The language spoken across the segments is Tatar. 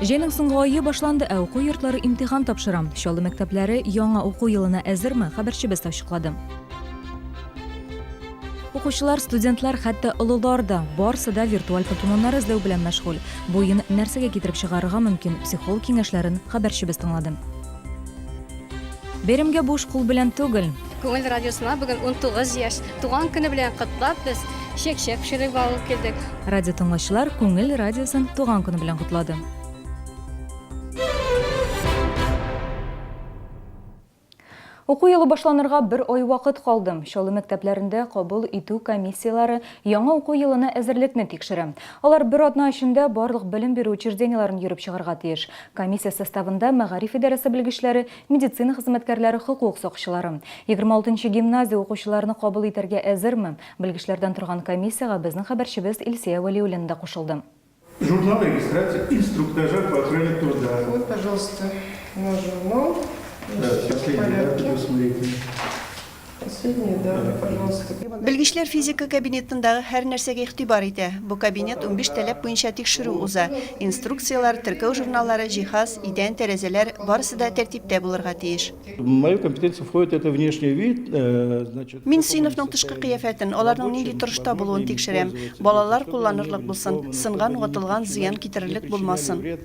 Җәйнең соңгы айы башланды, ә уку йортлары имтихан тапшыра. Чаллы мәктәпләре яңа уку елына әзерме? Хәбәрчебез ачыклады. Укучылар, студентлар, хәтта олылар да, барсы да виртуаль покемоннар эзләү белән мәшгуль. Бу уен нәрсәгә китереп чыгарырга мөмкин? Психолог киңәшләрен хәбәрчебез тыңлады. Бәйрәмгә буш кул белән түгел. Күңел радиосына бүген 19 яшь туган көне белән котлап без чәк-чәк пешереп алып килдек. Радио тыңлаучылар Күңел радиосын туган көне белән котлады. Уку елы башланырга бер ай вакыт калды. Чаллы мәктәпләрендә кабул итү комиссияләре яңа уку елына әзерлекне тикшерә. Алар бер атна эчендә барлык белем бирү учреждениеләрен йөреп чыгарга тиеш. Комиссия составында мәгариф идарәсе белгечләре, медицина хезмәткәрләре, хокук сакчылары. Егерме алтынчы гимназия укучыларны кабул итәргә әзерме? Белгечләрдән торган комиссиягә безнең хәбәрчебез Илсөя Вәлиуллина да кушылды. Журнал регистрации инструктажа по охране труда. Вот, пожалуйста, наш журнал. Да, сейчас я его буду смотреть. Последнее, да, пожалуйста. Белгечләр физика кабинетындагы һәр нәрсәгә игътибар итә. Бу кабинет унбиш таләп буенча тикшерү уза. Инструкцияләр, теркәү журналлары, җиһаз, идән, тәрәзәләр, барысы да тәртиптә булырга тиеш. В мою компетенцию входит это внешний вид, значит. Мин сыйныфның тышкы кыяфәтен, аларның нинди торышта булуын тикшерәм. Балалар кулланырлык булсын, сынган, ватылган, зыян китерерлек булмасын.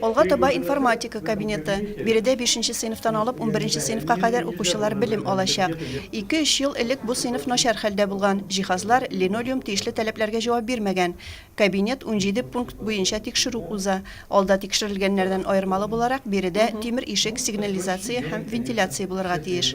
Алга таба информатика кабинеты, биредә бишенче сыйныфтан алып унберенче сыйныфка кадәр укучылар белем алачак. Ике-өч ел элек бу сыйныф начар хәлдә булган, җиһазлар, линолеум тиешле таләпләргә җавап бирмәгән. Кабинет унҗиде пункт буенча тикшерү уза. Алда тикшерелгәннәрдән аермалы буларак, биредә тимер ишек, сигнализация һәм вентиляция булырга тиеш.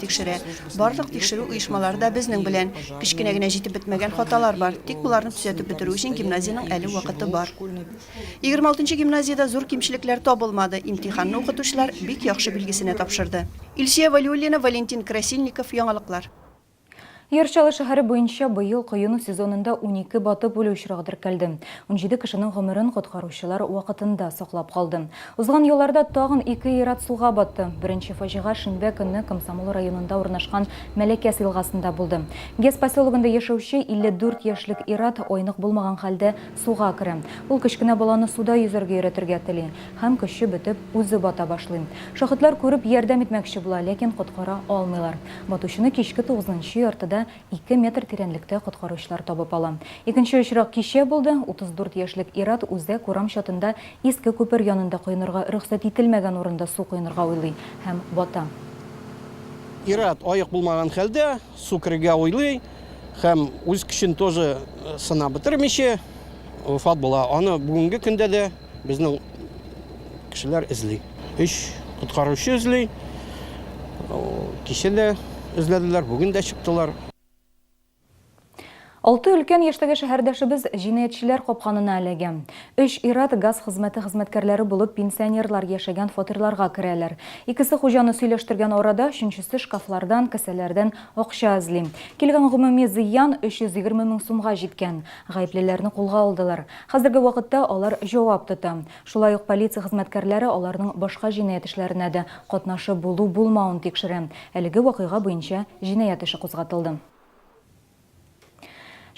тикшерә. Барлык тикшерү оешмалары да безнең белән. Кечкенә генә җитеп бетмәгән хаталар бар. Тик боларны төзәтеп бетерү өчен гимназиянең әле вакыты бар. Егерме алтынчы гимназиядә зур кимчелекләр табылмады, имтиханны укытучылар бик яхшы билгесенә тапшырды. Илсөя Вәлиуллина, Валентин Красильников, Яңалыклар. Яр Чаллы шәһәре буенча быел коену сезонында унике батып үлү очрагы теркәлде. Унҗиде кешенең гомерен коткаручылар вакытында саклап калды. Узган елларда тагын ике ир-ат суга батты. Беренче фаҗига шимбә көнне Комсомол районында урнашкан Мәләкәс елгасында булды. Гес поселогында яшәүче 54 яшьлек ир-ат айнык булмаган хәлдә суга керә. Ул кечкенә баланы суда йөзәргә өйрәтергә тели һәм, көче бетеп, үзе бата башлый. Шаһитлар күреп, ярдәм итмәкче була, ләкин коткара алмыйлар. Батучыны кичке тугызынчы яртыда ике метр тирәнлектә коткаручылар табып ала. Икенче очрак кичә булды, 34 яшьлек ир-ат үзәк урам чатында иске күпер янында коенырга рөхсәт ителмәгән урында су коенырга уйлый һәм бата. Ир-ат аек булмаган хәлдә су керергә уйлый һәм үз көчен тоже сынап бетермичә вафат була. Аны бүгенге көндә дә. Безнең кешеләр эзли. Өч коткаручы эзли. Кичә дә эзләделәр, бүген дә чыктылар. Алты өлкән яшьтәге шәһәрдәшебез җинаятьчеләр капканына эләгә. Өч ир-ат газ хезмәте хезмәткәрләре булып пенсионерлар яшәгән фатирларга керәләр. Икесе хуҗаны сөйләштергән арада, өченчесе шкафлардан, кесәләрдән акча эзли. Килгән гомуми зыян, 320 мең сумга җиткән. Гаеплеләрне кулга алдылар. Хәзерге вакытта алар җавап тота. Шулай ук полиция хезмәткәрләре аларның башка җинаять эшләренә дә катнашы булу-булмавын тикшерә. Әлеге вакыйга буенча җинаять эше кузгатылды.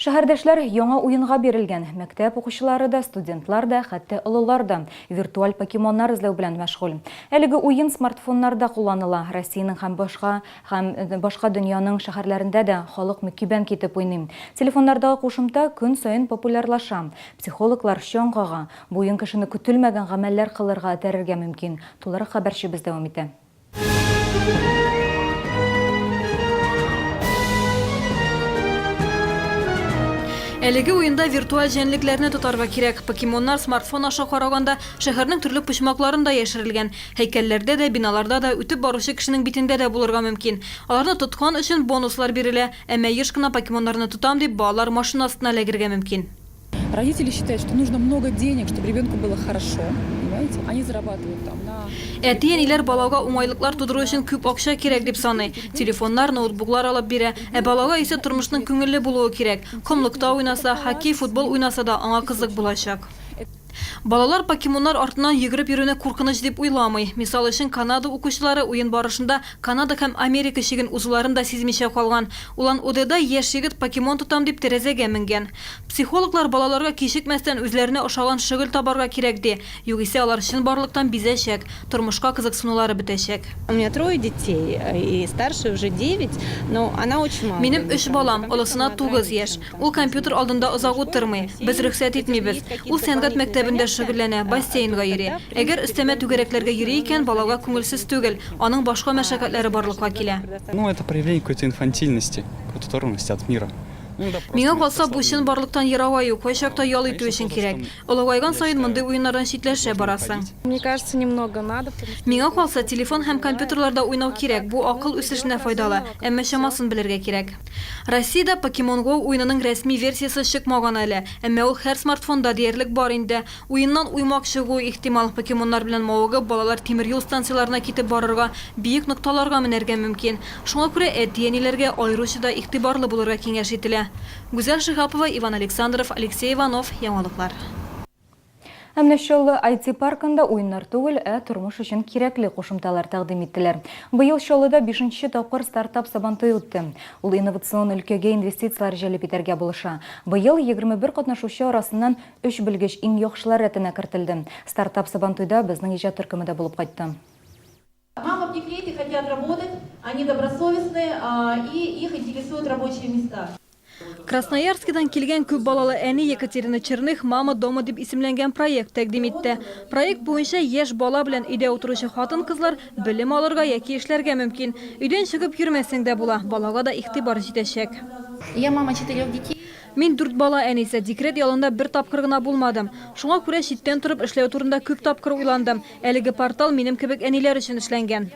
Шәһәрдәшләр яңа уенга бирелгән. Мәктәп укучылары да, студентлар да, хәтта олылар да виртуаль покемоннар эзләү белән мәшгуль. Әлеге уен смартфоннарда кулланыла. Россиянең һәм башка Һәм башка дөньяның шәһәрләрендә дә халык мөкибән китеп уйный. Телефоннардагы кушымта көн саен популярлаша. Психологлар чаң кага. Бу уен кешене көтелмәгән гамәлләр кылырга этәрергә мөмкин. Тулырак хәбәрчебез дәвам итә. Әлеге уенда виртуаль җәнлекләрне тотарга кирәк. Покемоннар смартфон аша караганда, шәһәрнең төрле почмакларында яшерелгән. Һәйкәлләрдә дә, биналарда да, үтеп баручы кешенең битендә дә булырга мөмкин. Аларны тоткан өчен бонуслар бирелә. Әмма еш кына покемоннарны тотам дип, балалар машина астына эләгергә мөмкин. Родители считают, что нужно много денег, чтобы ребенку было хорошо, понимаете? Они зарабатывают там на телефон. Әти-әниләр балага уңайлыклар тудыру өчен күп акча кирәк дип саный. Телефоннар, ноутбуклар алып бирә. Ә балага исә тормышның күңелле булуы кирәк. Комлыкта уйнаса, хоккей, футбол уйнаса да, аңа кызык булачак. Балалар покемоннар артыннан йөгереп йөрүне куркыныч дип уйламый. Мисал өчен, Канада укучылары уен барышында Канада һәм Америка чиген узуларын да сизмичә калган. Улан-Удеда яшь егет покемон тотам дип тәрәзәгә менгән. Психологлар балаларга кичекмәстән үзләренә ошаган шөгыль табарга кирәк ди, югыйсә алар чынбарлыктан бизәчәк, тормышка кызыксынулары бетәчәк. Минем өч балам, олысына тугыз яшь, Ул компьютер алдында озак утырмый, без рөхсәт итмибез. Ул сәнгать мәктәбендә шөгыльләнә, бассейнга йөри. Әгәр өстәмә түгәрәкләргә йөри икән, балага күңелсез түгел, аның башка мәшәкатьләре барлыкка килә. Миңа калса, бу чынбарлыктан ерааю, кайчакта ял итү өчен кирәк. Олыгайган саен мондый уеннардан читләшә барасың. Миңа калса, телефон һәм компьютерларда уйнау кирәк, бу акыл үсешенә файдалы, әмма чамасын белергә кирәк. Россиядә Pokemon Go уенының рәсми версиясе чыкмаган әле, әмма ул һәр смартфонда диярлек бар инде. Уеннан уймак чыгуы ихтимал, покемоннар белән мавыгып, балалар тимер юл станцияләренә китеп барырга, биек нокталарга менәргә мөмкин. Шуңа күрә әти-әниләргә аеруча да игътибарлы булырга киңәш ителә. Гүзәл Шиһапова, Иван Александров, Алексей Иванов, Яңалыклар. Ә менә Чаллы IT-паркында уеннар түгел, ә тормыш өчен кирәкле кушымталар тәкъдим иттеләр. Быел Чаллыда бишенче тапкыр Стартап Сабантуе үтте. Ул инновацион өлкәгә инвестицияләр җәлеп итәргә булыша. Быел егерме бер катнашучы арасыннан өч белгеч иң яхшылар рәтенә кертелде. Стартап Сабантуйда безнең иҗат төркеме дә булып кайтты. Мама в декрете хотят работать, они добросовестны и их интересуют рабочие места. Красноярскидан килгән күп балалы әни Екатерина Черных Мама дома дип исемләнгән проект тәкъдим итте. Проект буенча яшь бала белән өйдә утыручы хатын-кызлар белем алырга яки эшләргә мөмкин. Өйдән чыгып йөрмәсәң дә була, балага да игътибар җитәчәк. Я мама четырех детей. Мин дүрт бала әнисе, декрет ялында бер тапкыр гына булмадым. Шуңа күрә читтән торып эшләү турында күп тапкыр уйландым. Әлеге портал минем кебек әниләр өчен эшләнгән.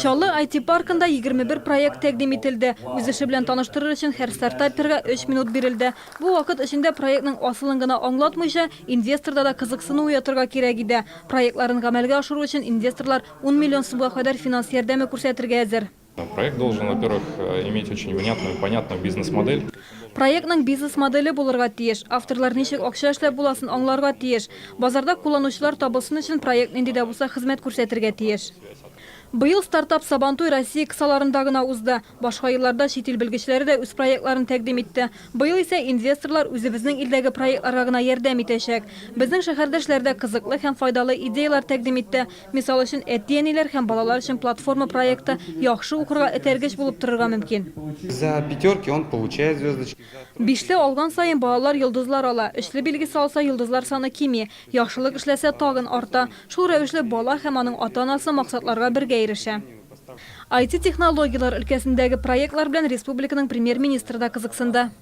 Чаллы IT-паркында егерме бер проект тәкъдим ителде. Үз эше белән таныштырыр өчен һәр стартаперга өч минут бирелде. Бу вакыт эчендә проектның асылын гына аңлатмыйча, инвесторда да кызыксыну уятырга кирәк иде. Проектларын гамәлгә ашыру өчен инвесторлар ун миллион сумга кадәр финанс ярдәме күрсәтергә әзер. Проектның бизнес-моделе булырга тиеш. Авторлар ничек акча эшләп буласын аңларга тиеш. Базарда кулланучылар табылсын өчен проект нинди дә булса хезмәт күрсәтергә тиеш. Быел стартап Сабантуй Россия кысаларында гына узды. Башка елларда чит ил белгечләре дә үз проектларын тәкъдим итте. Быел исә инвесторлар үзебезнең илдәге проектларга гына ярдәм итәчәк. Безнең шәһәрдәшләр дә кызыклы һәм файдалы идеяләр тәкъдим итте. Мисал өчен, әти-әниләр һәм балалар өчен платформа проекты яхшы укырга этәргеч булып торырга мөмкин. За пятерки он получает звездочки, за тройки. Бишле алган саен балалар йолдызлар ала, өчле билгесе алса, йолдызлар саны кими, яхшылык эшләсә, тагын арта. Шул рәвешле бала һәм аның ата-анасы максатларга бергә ирешә. IT-технологияләр өлкәсендәге проектлар белән республиканың Премьер-министры да кызыксынды.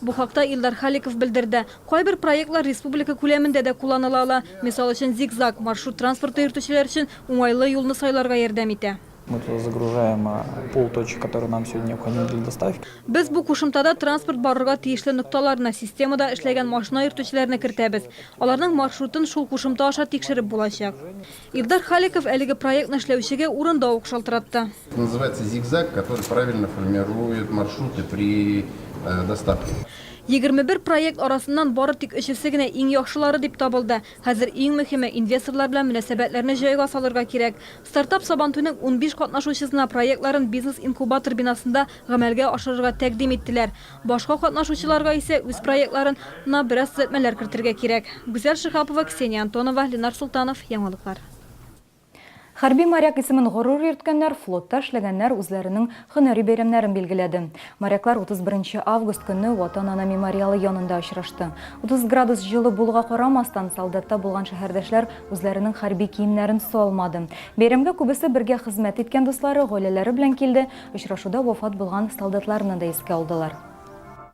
Бу хакта Илдар Халиков белдерде. Кайбер проектлар республика күләмендә дә кулланыла ала. Мисал өчен, Зигзаг, маршрут транспорты йөртүчеләр өчен уңайлы юлны сайларга ярдәм итә. Мы туда загружаем пул точек, которые нам сегодня необходимы для доставки. Без бу кушымтада транспорт барырга тиешле нокталарны, системада эшләгән машина йөртүчеләрне кертәбез. Аларның маршрутын шул кушымта аша тикшереп булачак. Илдар Халиков әлеге проектны эшләүчегә урында ук шалтыратты. Егерме бер проект арасыннан бары тик өчесе генә иң яхшылары дип табылды. Хәзер иң мөһиме, инвесторлар белән мөнәсәбәтләрне җайга салырга кирәк. Стартап Сабантуйның унбиш катнашучысына проектларын бизнес-инкубатор бинасында гамәлгә ашырырга тәкъдим иттеләр. Башка катнашучыларга исә үз проектларын на бераз төзәтмәләр кертергә кирәк. Гүзәл Шиһапова, Ксения Антонова, Ленар Солтанов, Яңалыклар. Хәрби моряк исемен горур йөрткәннәр, флотта эшләгәннәр үзләренең һөнәри бәйрәмнәрен билгеләде. Моряклар 31 август көнне Ватан-Ана мемориалы янында очрашты. 30 градус җылы булуга карамастан, солдатта булган шәһәрдәшләр үзләренең хәрби киемнәрен салмады. Бәйрәмгә күбесе бергә хезмәт иткән дуслары, гаиләләре белән килде, очрашуда вафат булган солдатларны да искә алдылар.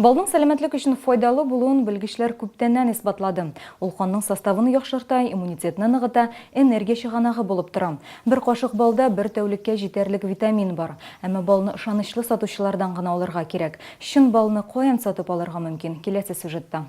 Балның сәламәтлек өчен файдалы булуын белгечләр күптәннән исбатлады. Ул канның составын яхшырта, иммунитетны ныгыта, энергия чыганагы булып тора. Бер кашык балда бер тәүлеккә җитәрлек витамин бар. Әмма балны ышанычлы сатучылардан гына алырга кирәк. Чын балны каян сатып алырга мөмкин, киләсе сюжетта.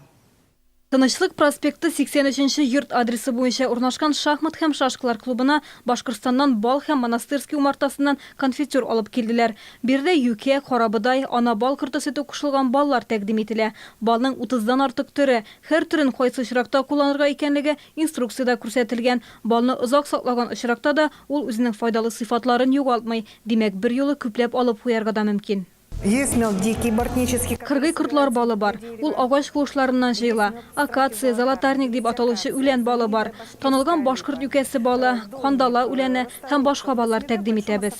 Тынычлык проспекты 83 нче йорт адресы буенча урнашкан шахмат һәм шашкалар клубына Башкортстаннан бал һәм Монастырский умартасыннан конфитюр алып килделәр. Биредә юкә, карабодай, ана бал корты сөте кушылган баллар тәкъдим ителә. Балның утыздан артык төре, һәр төрен кайсы очракта кулланырга икәнлеге инструкциядә күрсәтелгән. Балны озак саклаган очракта да ул үзенең файдалы сыйфатларын югалтмый, димәк, берьюлы күпләп алып куярга да мөмкин. Кыргый кортлар балы бар. Ул агач куышларыннан җыела. Акация, золотарник дип аталучы үлән балы бар. Танылган башкорт юкәсе балы, кандала үләне һәм башка баллар тәкъдим итәбез.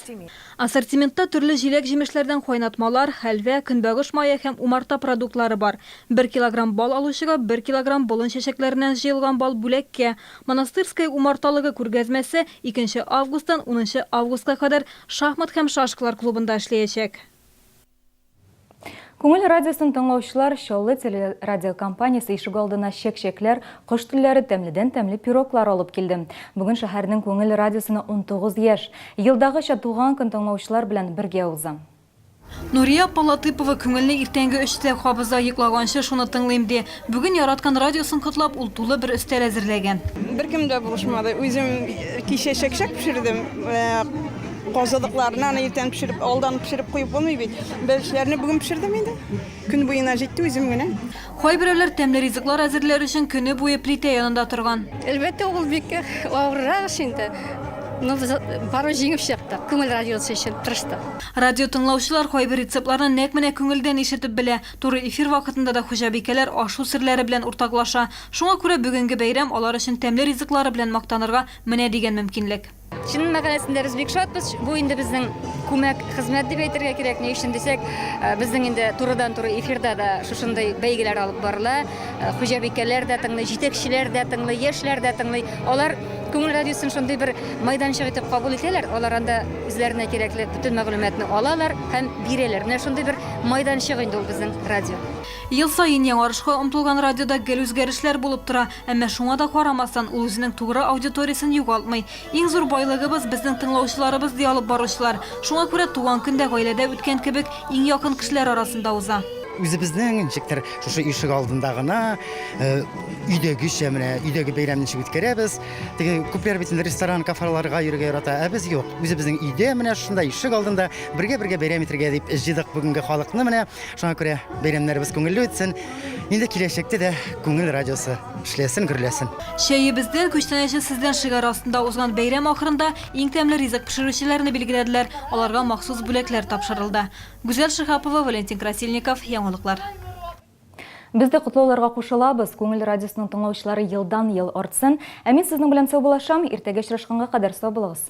Ассортиментта төрле җиләк-җимешләрдән кайнатмалар, хәлвә, көнбагыш мае һәм умарта продуктлары бар. Бер килограмм бал алучыга бер килограмм болын чәчәкләреннән җыелган бал бүләккә, Монастырское умарталыгы күргәзмәсе икенче августтан унынчы августка кадәр шахмат һәм шашкалар клубында эшләячәк. Күңел радиосын тыңлаучылар, Чаллы телерадиокомпаниясе ишегалдына чәк-чәкләр, кош телләре, тәмледән-тәмле пироглар алып килде. Бүген шәһәрнең Күңел радиосына унтугыз яшь. Елдагыча туган көн тыңлаучылар белән бергә уза. Нурия апа Латыпова күңелне иртәнге өчтә кабыза, йоклаганчы шуны тыңлыйм, ди. Бүген яраткан радиосын котлап, ул тулы бер өстәл әзерләгән. Беркем дә булышмады. Үзем кичә чәкчәк пешердем. Казылыкларны аны иртән пешереп, алдан пешереп куеп булмый бит. Бәлешләрне бүген пешердем инде. Көн буена җитте үзем генә. Кайберәүләр тәмле ризыклар әзерләр өчен көне буе плитә янында торган. Әлбәттә, ул бик авыррак эш инде. Но без барыбер җиңеп чыктык. Күңел радиосы өчен тырыштык. Радио тыңлаучылар кайбер рецептларны нәкъ менә күңелдән ишетеп белә. Туры эфир вакытында да хуҗабикәләр ашу серләре белән уртаклаша. Шуңа күрә бүгенге бәйрәм алар өчен тәмле ризыклары белән мактанырга менә дигән мөмкинлек. Чынын мәкаләсендә без бик шатбыз. Бу инде безнең күмәк хезмәт дип әйтергә кирәк. Ни өчен дисәк, э, безнең инде турыдан туры эфирда да шушындый бәйгеләр алып барыла. Э, хуҗабикәләр дә тыңлый, җитәкчеләр дә тыңлый, яшьләр дә тыңлый. Алар күңел радиосын шундый бер майданчык итеп кабул итәләр. Алар анда үзләренә кирәкле бөтен мәгълүматны алалар һәм бирәләр. Менә шундый бер майданчык инде ул безнең радио. Ел саен яңарышка омтылган радиода гел үзгәрешләр булып тора. Әмма шуңа да карамастан, ул үзенең тугры аудиториясен югалтмый. Иң зур байлыгыбыз, безнең тыңлаучыларыбыз, ди алып баручылар. Шуңа күрә туган көн дә гаиләдә үткән кебек, иң якын кешеләр арасында уза. Үзебезнең ничектер шушы ишек алдында гына, өйдәгечә менә, өйдәге бәйрәмне ничек үткәрәбез. Теге күпләр бит инде ресторан, кафарларга йөрергә ярата, ә без юк. Үзебезнең өйдә, менә шушында ишек алдында бергә-бергә бәйрәм итәргә дип җыйдык бүгенге халыкны менә. Шуңа күрә бәйрәмнәребез күңелле үтсен, Инде киләчәктә дә күңел радиосы эшләсен, гөрләсен. Чәебездән, күчтәнәче сездән шигаре астында узган бәйрәм ахырында иң тәмле ризык пешерүчеләрне билгеләделәр, аларга махсус бүләкләр тапшырылды. Гүзәл Шиһапова, Валентин Красильников, Яңалыклар. Без дә котлауларга кушылабыз. Күңел радиосының тыңлаучылары елдан-ел артсын. Ә мин сезнең белән саубуллашам. Иртәгә очрашканга кадәр сау булыгыз.